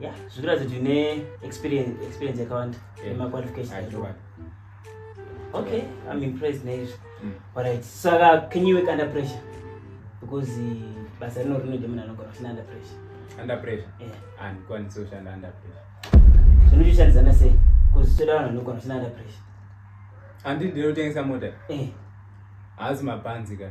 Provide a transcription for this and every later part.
ya zvikira ziti ne experience experience yakawanda nema qualifications okay i'm impressed nezvi mm. alright saka can you work under pressure because eh, basa rino rinoda munhu anogona kushanda under pressure under pressure handikwanisi kushanda under pressure zvinochishandidzana sei bcause toda vanhu vanogona kushanda under pressure handi ndinotengesa mota eh. haasi mapanzi ka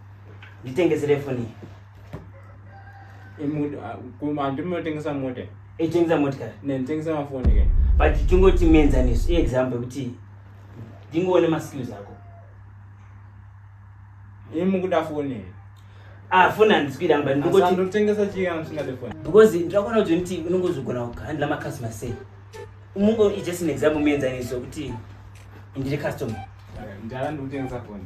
nditengesere foni andinotengesa mota itengesa motikari nditengesa mafoni ke but tingoti mienzaniso iexample yekuti ndingoone maskills ako imukuda foni afoni ah, handisikuita mba ndingotengesa chiamusingade foni because ndirakuona kuti nditi unongozogona kuhandla macustomer sei mungo just an example mienzaniso yekuti ndiri customer ndara ndikutengesa foni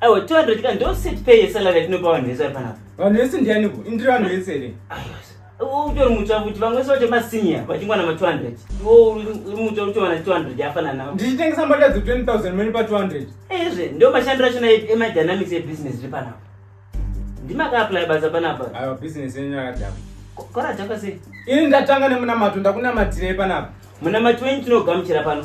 Aiwa 200 ka ndo set pay yesalary yatinopa vanhu vese vari panapa. Vanhu vese ndiani ko? Indiri vanhu vese here? Aiwa. Utori mutsva kuti vamwe vese vacho masenior vachingwana ma 200. Ndiwo uri mutsva kuti wana 200 yafana nawo. Ndichitengesa mbatya dze 20000 mene pa 200. Ezve ndo mashandiro achona ema dynamics e business ri panapa. Ndimaka apply basa panapa. Aiwa business yenyu yakadhakwa. Kora dzakwa sei? Ini ndatanga nemunamato ndakunamatirei panapa? Munamato wenyu tinogamuchira pano.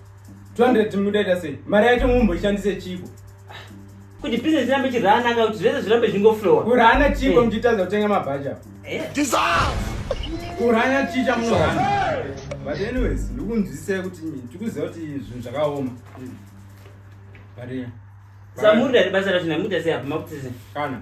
200 mudaita sei mari yacho mumbo ishandise chiko kuti business irambe ichiranaka kuti zvese zvirambe zvingoflowa kurana chiko eh. muchitadza kutenga mabhaja eh. kurana chicha munorana but anyways ndikunzwisisai kuti tikuziva kuti zvinhu zvakaoma but samurira ribasa racho namuda sei apa makutise kana